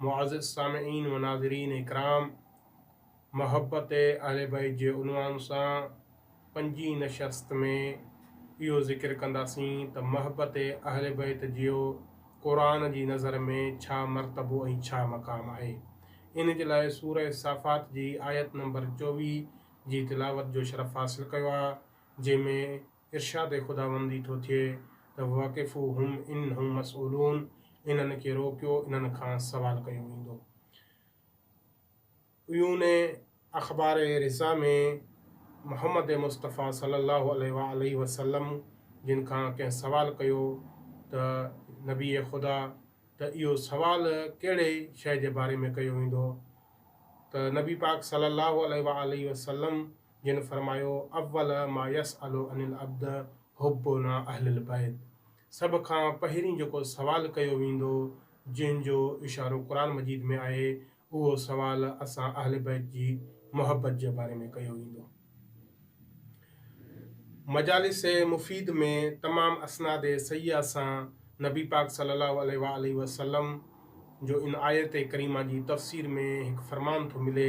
معزز سامعين و ناظرين اڪرام! محبت اهل بيت جي عنوان سان پنجين نشست ۾ اهو ذڪر ڪنداسين ته محبت اهل بيت جيو قرآن جي نظر ۾ ڇا مرتبو ۽ ڇا مقام آهي؟ ان جي لاء سورة صافات جي آيت نمبر چوويهه جي تلاوت جو شرف حاصل ڪيو آهي جنهن ۾ ارشاد خداوندي ٿو ٿئي ته وقفوهم انهم مسئولون انهن کي روڪيو انهن کان سوال ڪيو ويندو. عيون اخبار رضا ۾ محمد مصطفيٰ صلي الله عليه وآله وسلم جن کان ڪنهن سوال ڪيو ته نبي خدا ته اهو سوال ڪهڙي شيء جي باري ۾ ڪيو ويندو ته نبي پاڪ صلي الله عليه وآله وسلم جن فرمايو، اول ما يسأل عن العبد حبنا اهل البيت سڀ کان پهرين جيڪو سوال ڪيو ويندو جنهن جو اشارو قرآن مجيد ۾ آهي اهو سوال اسان اهل بيت جي محبت جي باري ۾ ڪيو ويندو. مجالس مفيد ۾ تمام اسناد صحيحه سان نبي پاڪ صلي الله عليه وآله وسلم جو ان آيت ڪريمه جي تفسير ۾ هڪ فرمان ٿو ملي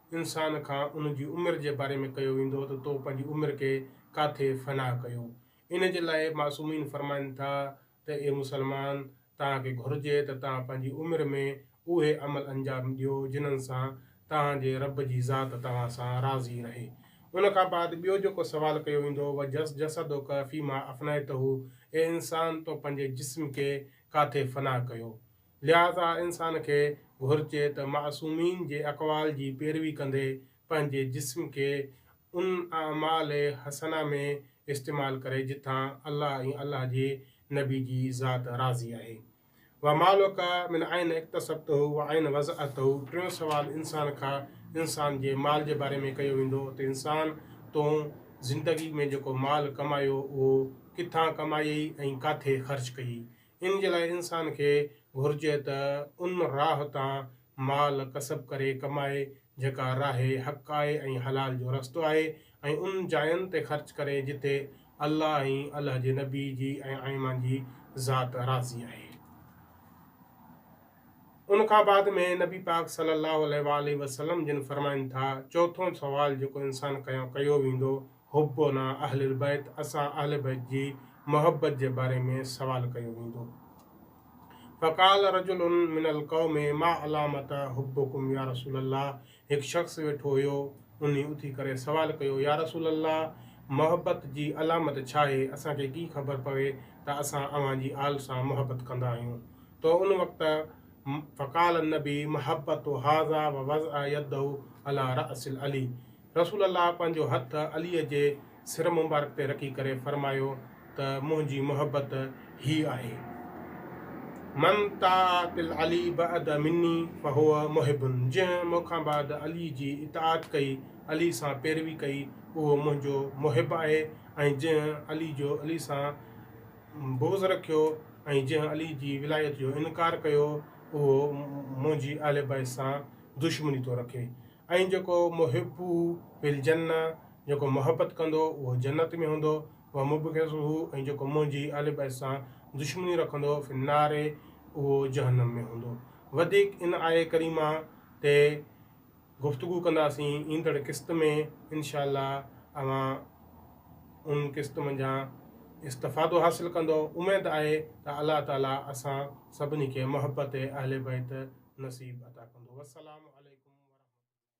انسان کان ان جي عمر جي باري ۾ ڪيو ويندو ته تو پنهنجي عمر کي ڪاٿي فنا ڪيو. ان جي لاء معصومين فرمائن ٿا ته اي مسلمان! توهان کي گهرجي ته توهان پنهنجي عمر ۾ اهي عمل انجام ڏيو جنھن سان توهان جي رب جي ذات توهان سان راضي رهي. ان کان بعد ٻيو جيڪو سوال ڪيو ويندو وجس جسدک فيما افنيته اي انسان تو پنهنجي جسم کي ڪاٿي فنا ڪيو؟ لهٰذا انسان کي گهرجي ته معصومين جي اقوال جي پيروي ڪندي پنهنجي جسم کي ان اعمال حسنه ۾ استعمال ڪري جتان الله ۽ الله جي نبي جي ذات راضي آهي. ومالک من اين اڪتسبته واين وضعته ٽيون سوال انسان کان انسان جي مال جي باري ۾ ڪيو ويندو ته انسان تون زندگي ۾ جيڪو مال ڪمايو اهو ڪٿان ڪمايئي ۽ ڪاٿي خرچ ڪيئي ان جي لاء انسان کي گهرجي ته ان راهه تان مال ڪسب ڪري ڪمائي جيڪا راهه حق آهي ۽ حلال جو رستو آهي ۽ ان جاين تي خرچ ڪري جتي الله ۽ الله جي نبي جي ۽ ائمان جي ذات راضي آهي. ان کان بعد ۾ نبي پاڪ صلي الله عليه وآله وسلم جن فرمائن ٿا، چوٿون سوال جيڪو انسان کان ڪيو ويندو حبنا اهل البيت اسان اهل بيت جي محبت جي باري ۾ سوال ڪيو ويندو. فقال رجل من القوم ما علامت حبکم يا رسول الله هڪ شخص ويٺو هيو انهي اٿي ڪري سوال ڪيو يا رسول الله محبت جي علامت ڇا آهي اسان کي ڪي خبر پوي ته اسان اوهان جي آل سان محبت ڪندا آهيون تو ان وقت فقال النبي محبت هذا ووضع يده علي راس علي رسول الله پنهنجو هٿ عليء جي سر مبارڪ تي رکي ڪري فرمايو ته منهنجي محبت هيء آهي، من طاعت العلي بعد مني فهو محب، جنهن مون کان بعد علي جي اطاعت ڪئي، علي سان پيروي ڪئي، اهو منهنجو محب آهي ۽ جنهن علي جو علي سان بغض رکيو ۽ جنهن علي جي ولايت جو انڪار ڪيو، اهو منهنجي اهل بيت سان دشمني ٿو رکي. ۽ جيڪو محبه في الجنه، جيڪو محبت ڪندو اهو جنت ۾ هوندو، ومبغضه ۽ جيڪو منهنجي اهل بيت سان دشمني رکندو في النار اهو جهنم ۾ هوندو. وڌيڪ ان آيه ڪريمه تي گفتگو ڪنداسين ايندڙ قسط ۾ انشاء الله اوهان ان قسط منجهان استفادو حاصل ڪندؤ اميد آهي ته الله تعالي اسان سڀني کي محبت اهل بيت نصيب عطا ڪندو والسلام عليڪم ورحمة الله.